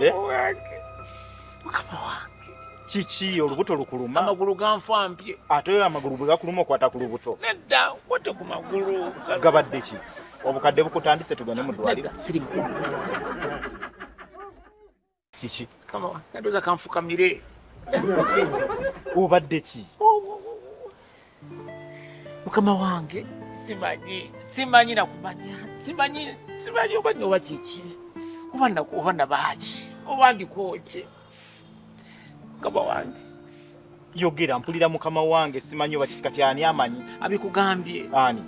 Eh? mukama wange kiki olubuto lukuluma amagulu ganfampye ate oyo amagulu bwe gakuluma okwata ku lubuto nedda kwate ku magulu gabadde ki obukadde bukutandise tugende mu ddwaliro sirimu kiki kama wange ndoza kanfukamire obadde ki mukama wange simanyi simanyi nakumanya simanyi simanyi oba nyoba kiki oba nakuba nabaaki oba ndikoki mukama wange yogera mpulira mukama wange simanyi oba kiki kati ani amanyi abikugambye ani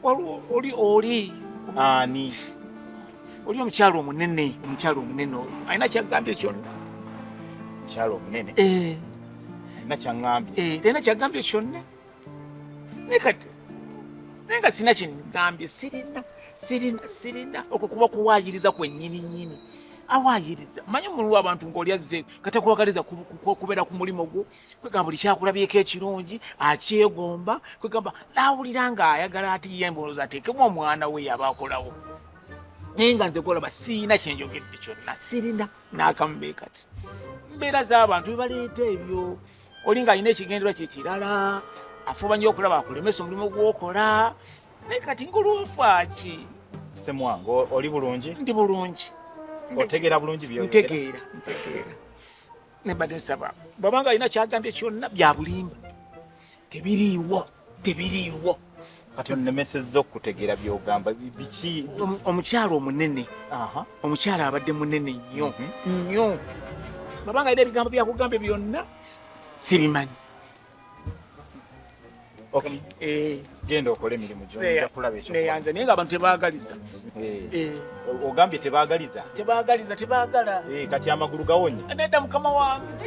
oli oli ani oli omukyalo omunene omukyalo omunene oyo alina kyagambye kyonna omukyalo omunene eh. alina kyagambye eh, talina kyagambye kyonna naye kati naye nga sirina kyengambye sirina sirina sirina okwo kuba kuwaayiriza kwennyini nnyini awaayiriza manyi omuliwo abantu ng'oli azze katakwagaliza kubeera ku mulimu gwo kwegamba buli kyakulabyeko ekirungi akyegomba kwegamba nawulira nga ayagala ati ye mbolooza ateekemu omwana we yaba akolawo naye nga nze kolaba siina kyenjogedde kyonna sirina nakamube kati mbeera z'abantu bebaleeta ebyo oli nga alina ekigenderwa kyekirala afuba nyo okulaba akulemesa omulimu gwokola naye kati ngolwofaaki semwange oli bulungi ndi bulungi otegeera bulungi byo ntegeera ntegeera nebadde nsaba bwaba nga alina kyagambye kyonna byabulimba tebiriiwo tebiriiwo kati onemesezza okutegeera byogamba biki omukyalo omunene omukyalo abadde munene nnyo mhm. nnyo baba nga alina ebigambo byakugambye byonna sibimanyi Okay. Eh. Genda okole emirimu gyo nja kulaba ekyo. Neyanze naye ng'abantu tebaagaliza. Eh. eh. Ogambye tebaagaliza? Tebaagaliza, tebaagala. Eh, kati amagulu gawonye. Nedda mukama wange.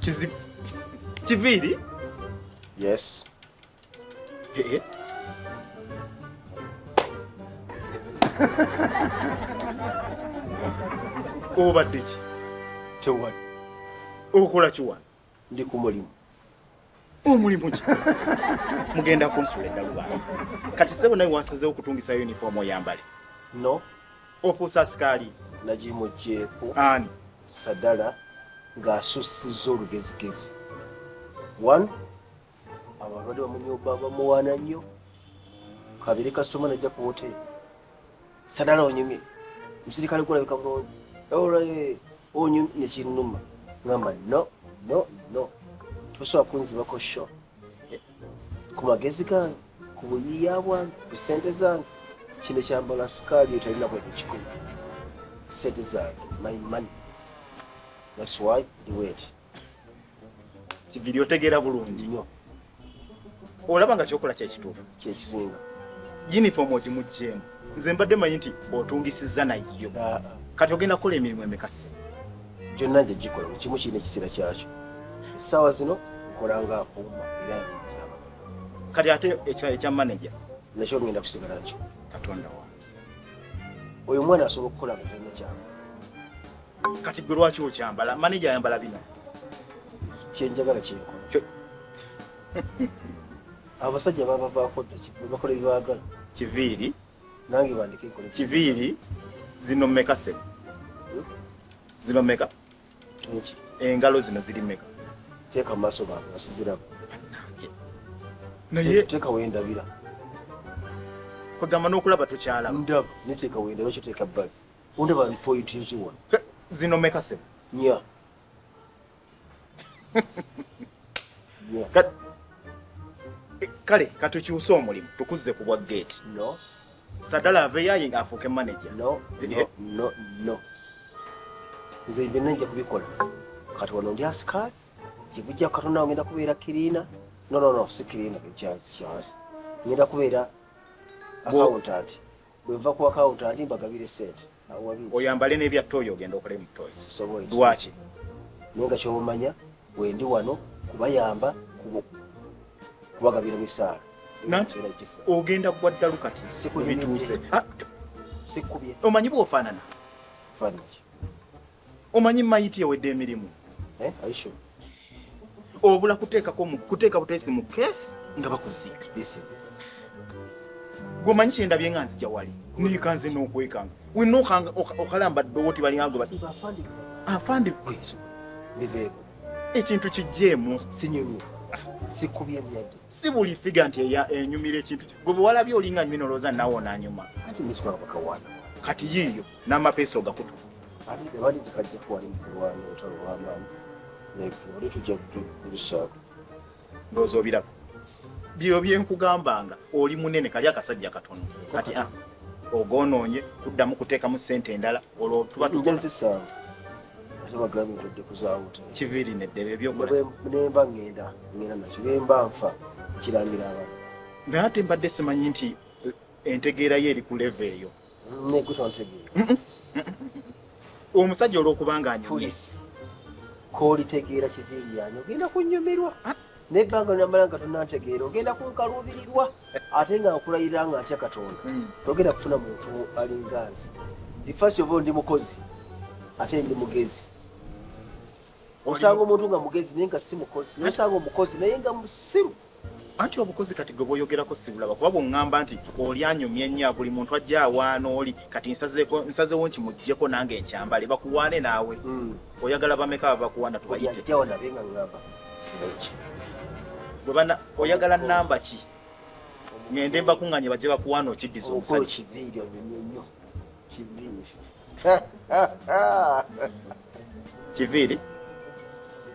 Kizi Kiviri? Yes. Hey. Obadde ki? Tewali. Okola ki wano? Ndi ku mulimu. omulimu ki mugenda kunsula eddaluba kati sebo naye wansazewo okutungisa uniform oyambale no ofuusa sikaali nagimugyeeko ani sadala ng'asussizza olugezigezi one abalwadde bamunyobba bamuwaana nnyo kabiri kasitoma najja ku woteeri Sadala onyumye. Msirikale kula bika ngo. Ora ye onyumye ne kinuma. Ngamba no no no. Tosoa kunzi bako sho. Eh, ku magezi gange, ku buyiya bwange, ku sente zange. Kino kyambala sukali etalina kwa kikulu. Sente zange, my money. That's why the wait. kiviri otegeera bulungi olaba nga kyokola kyekituufu kyekisinga uniform ogimugyemu nze mbadde manyi nti otungisiza nayo ah. kati ogenda kukola emirimu emikasi gyonna nje gikola buli kimu kirina ekiseera kyakyo essaawa zino nkola nga uma era nzaba kati ate ekya manaja nakyo ngenda kusigala nakyo katonda wange oyo omwana asobola okukola nga talina kyama kati gwe lwaki okyambala maneja ayambala bino kyenjagala kyekola abasajja babavaako dda bakola ebyagala kiviiri nange bandike nkole kiviiri zino meka se hmm? zino meka engalo zino ziri meka teeka maaso bange osiziramu naye teeka wendabira kwegamba n'okulaba tokyalaba ndaba neteeka wendabira kyoteeka bbali Undaba point nziwa. Zino meka se. Nya. Yeah. Kat eh, kale katukyuse omulimu tukuzze ku bwa gate. No. Sadala aveyo ayi nga afuuke manager. No. Eh, no. Eh. No. No. Nze ibyo nja kubikola. Kati wano ndi askari. Kibujja katona ngenda kubeera kirina. No no no sikirina kya kya. Ngenda kubeera accountant. bwenva ku akawunta andi mbagabire sente oyambale n'ebyatta oyo ogenda okola emutozi lwaki naye nga kyobumanya wendi wano kubayamba kubagabira misaala ogenda kuwa ddalu kati bituuse ah, omanyi bwofaanana Omanyi mayiti yawedde emirimu. Eh, are you sure? Obula kuteekako mu kuteeka buteesi mu keesi nga bakuziika. Yes. Gomanyi kyenda byenga nzija wali. Ni kanze no kwekanga. We no kanga okalamba dowoti bali hango bati. Afandi. Afandi kwezo. Biveko. Ekintu kijemu sinyulu. Sikubye byadi. Sibuli figure nti ya enyumire eh, ekintu. Gobo wala byo linga nyumino roza nawo na nyuma. Ati miswa bakawana. Kati yiyo. n'amapeesa ogakutu tewali kikajja kuwali mukulwana olutalo lwamaanyi naye tujja kubisaako ndowooza obiraba byo byenkugambanga oli munene kali akasajja katono kati ah, ogonoonye kuddamu kuteekamu ssente endala olwo tuba tujazisaawo kibiiri neddebe ebyokunemba ngenda ngenda nakyo bemba nfa kirangira abantu naye ate mbadde simanyi nti entegeera yo eri ku leva eyo omusajja olwokubanga anyumye kolitegeera kiviiri yange ogenda kunyumirwa ah. nebbanga namala nga tonantegeera ogenda kunkaluubirirwa ate nga nkulayirira nga ntya katonda hmm. togenda kufuna muntu alinganzi ndi fasi oba ndi mukozi ate ndi mugezi osanga omuntu nga mugezi naye nga si mukozi naye osanga omukozi naye nga musiru anti obukozi kati gwe bwoyogerako sibulaba kuba bwoŋŋamba nti oli anyumya ennyo buli muntu ajja awaana oli kati nsazewo nti muggyeko nange nkyambale bakuwaane naawe hmm. oyagala bameka babakuwaana tubayite bwebana oyagala namba ki ŋende mbakuŋŋanye bajje bakuwaana okiddiza omusajja Kiviiri. Kiviiri.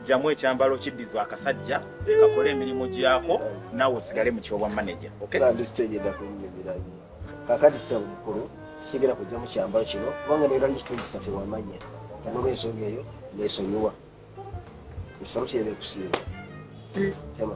Jamu ekyambalo kiddizwa akasajja kakole emirimu gyako nawe osigale mu kyobwa maneja kakati sebo mukulu sigera kujja mu kyambalo kino kubanga neera likitungisa tewamanya kanoba ensonga eyo nesonyiwa esaluti era ekusiiba tema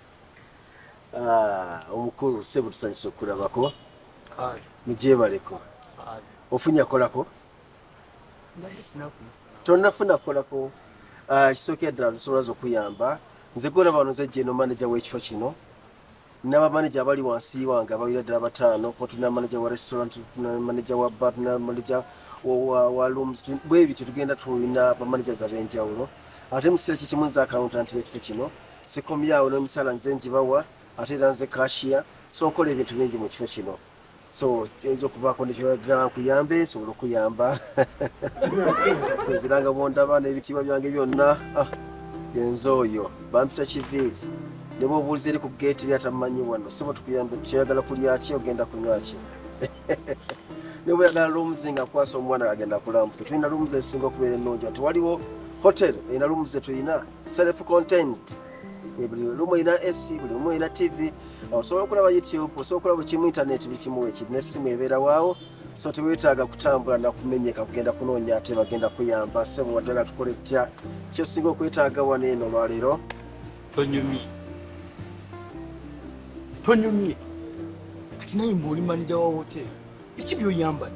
Ah, omukulu sebo tusanyusa okulabako mujebaleko ofunya kolako tonafuna kolako ah, kisookera ddala lusobola za okuyamba nze golaba wano nze jeno manaja w'ekifo kino n'abamaneja abali wansi wange abawira ddala bataano kuba tulina manaja wa restaurant tulina manaja wa bar tulina manaja wa looms bwebityo tugenda tulina bamanagers ab'enjawulo ate mu kiseera kyekimu nze accountant b'ekifo kino sikomyawo n'emisala nze njibawa ate era nze kashiya so nkola ebintu bingi mu kifo kino so kiyinza okuvaako nekyoyagala nkuyambe nsobola okuyamba nziranga bwondaba n'ebitiibwa byange byonna ah, yenze oyo bampita kiviiri ne bwobuuliza eri ku geeti eri atamanyi wano sibo tukuyambe kyoyagala kulyaki ogenda kunywaki ne bweyagala loomuzi nga akwasa omwana agenda kulambuza tulina loomuzi ezisinga okubeera ennungi ati waliwo hotel erina loomuzi tulina self content buli lumu olina ac buli lumu olina tv osobola okulaba youtube osobola okulaba bukimu internet buli kimu wekiri nesimu ebeera waawo so tewetaaga kutambula nakumenyeka kugenda kunoonya ate bagenda kuyamba sebo watulaga tukole tutya kyosinga okwetaaga wano eno olwaleero tonyumye tonyumye kati naye mbuoli manija wa hotel eki byoyambadde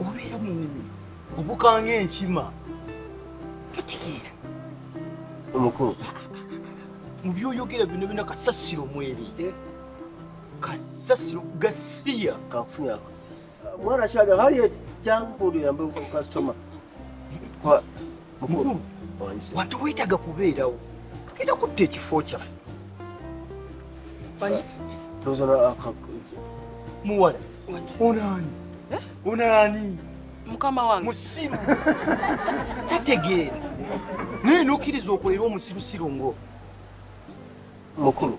obeera mu nnimiro obukanga enkima totegeera omukulu mu byoyogera bino bina kasasiro mweri eh? kasasiro gasiya kakufunyako mwana kyali hali eti jangu kundi yambe kukasitoma mukulu watu wetaga kubeerawo kenda kutta ekifo kyaffe muwala onaani eh? onaani mukama wange musiru tategeera naye nokkiriza okolera omusirusiru ngo mukulu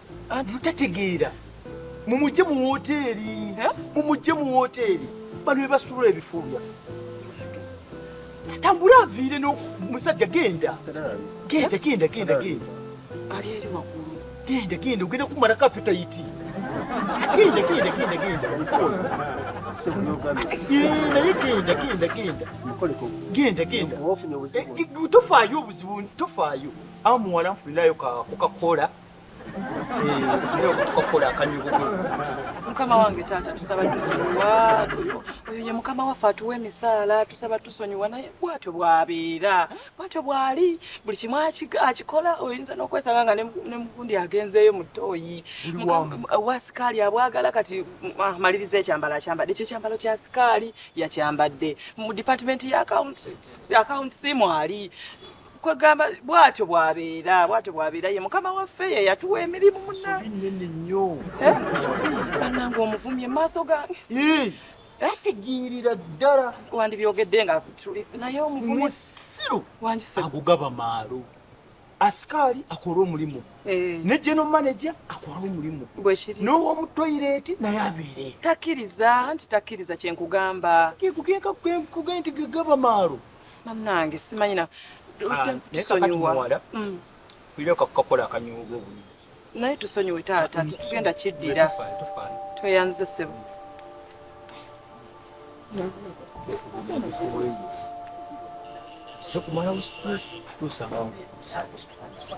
anti tategeera mumujje mu woteeri mumujje mu woteeri bano bebasuula ebifumu byaffe atambule aviire nomusajja genda genda genda genda genda ali eri waggulu genda genda ogenda kumala kapitayiti genda genda genda genda mukolo naye genda genda genda genda genda eh, tofaayo obuzibu tofaayo amuwala nfunirayo kukakola mukama wange taata tusaba tusonyiwa oyo ye mukama waffe atuwa emisaala tusaba tusonyiwa naye bwatyo bwabeera bwatyo bwali buli kimu akikola oyinza nokwesanga nga nemugundi agenzeeyo mutoyi wasikaali abwagala kati ah, maliriza ekyambalo akyambadde ekyo ekyambalo kya sikaali yakyambadde mu department ya akawunti simwali kwegamba bwatyo bwabeera bwatyo bwabeera ye mukama waffe ye yatuwa emirimu munanene nnyo eh? banange omuvumye emaaso gange ategeerera eh? ddala wandibyogedde nga tuli naye omuvumye musiru wangise agugaba maalo asikaali akole omulimu eh. ne geno manaja akole omulimu n'owomutoyireeti naye abeere takkiriza nti takkiriza kyenkugamba kekugenka kwenkuge nti gegaba maalo bannange simanyi na ah, tusonyiwa mm. fuyire kakukakola akanyuuga obulungi naye tusonyiwe taata mm. tetugenda kiddira tweyanzize sebo sekumalawo stress ate osanga nsaako stress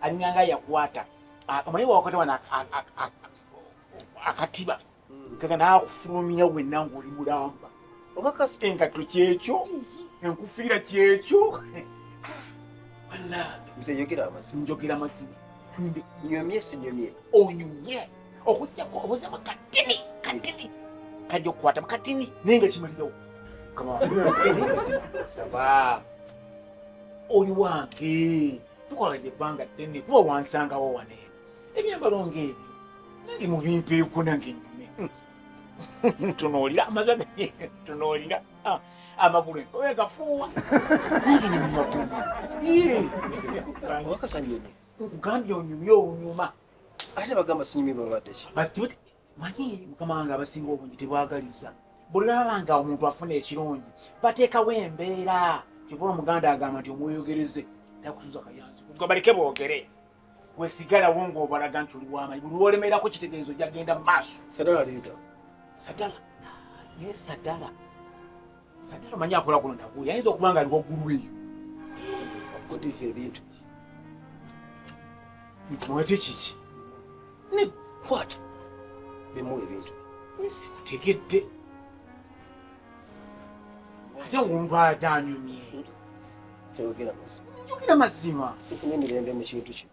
alinga nga yakwata omanyi wakwata wana akatiba hmm. kaka nakufulumya wenna ngaoli mulamba oba kasi engatto kyekyo enkufiira kyekyo njogera mazima nyomye sinyomye onyumye okujjako obuzemu katini katini kajja okukwatamu katini naye nga kimalirawo saba oli wange tukoledde ebbanga ddene kuba wansangawo wane ebyambalo ng'ebyo nange mubimpeeko nange nyume tunuulira amaza tunuulira ah, amagulu enkobe gafuuwa nange ne mumagulu wakasanyumye nkugambye onyumye olunyuma ate bagamba sinyumye babadde ki manyi mukama wange abasinga obungi tebwagaliza buli laba nga omuntu afuna ekirungi bateekawo embeera kyova omuganda agamba nti omweyogereze takusuza kayanzi kugabaleke boogere wesigalawo ngaobalaga nti oli wamanyi buli wolemerako kitegeezo jagenda mu maaso sadala liita sadala naye sadala Sati amanyi akola kuno nakuli ayinza okuba nga ali waggulu eyo okutiisa ebintu mwete kiki nekwata bimu ebintu sikutegedde ate ngaomuntu ate anyumye njogera mazima sikunemirembe mu kintu kino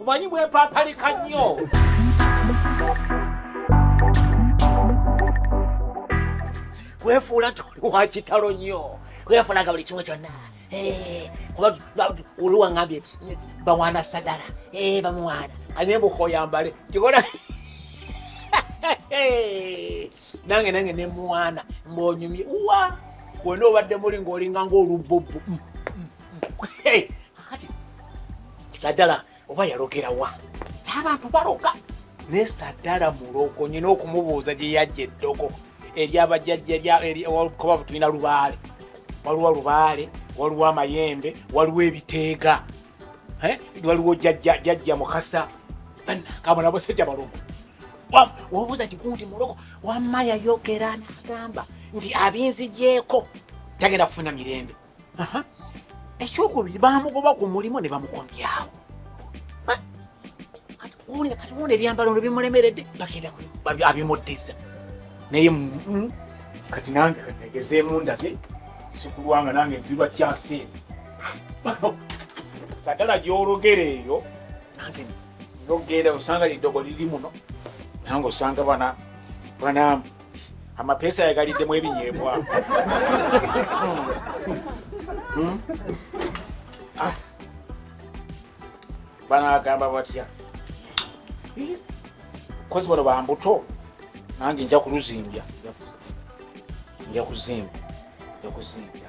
omanyi bwepapalika nnyo wefuula toli wakitalo nnyo wefulaga buli kimu kyonna eh, oli wangambye bawaana sagala eh, bamuwaana anye mbukoyambale kikola nange nange nemuwaana mbonyumye wa wena obadde muli ngaolinga ngaolubbobu mm. kakati sadala oba yalogera wa abantu baloga naye sadala mulogo nyina okumubuuza gye yajja eddogo eryabajjajjakuba butulina lubaale waliwo lubaale waliwo amayembe waliwo ebiteega waliwo jajja mukasa banakabo nabasajja balogo wabuuza ti gundi mulogo wamma yayogera nagamba nti abinzigyeko tagenda kufuna mirembe ekyokubiri bamugoba ku mulimu ne bamukomyawo kati wona ebyambalo no bimulemeredde bagenda abimuddiza naye kati nange egezeemu ndage sikulwanga nange nviirwa kyansi sagala gyologera eyo nange nogenda osanga liddogo liri muno nange osanga bana banamu amapeesa yagaliddemu ebinyeebwa hmm? ah. banagamba batya kozi bano bambuto nange nja kuluzimbya nja kuzimba nja kuzimbya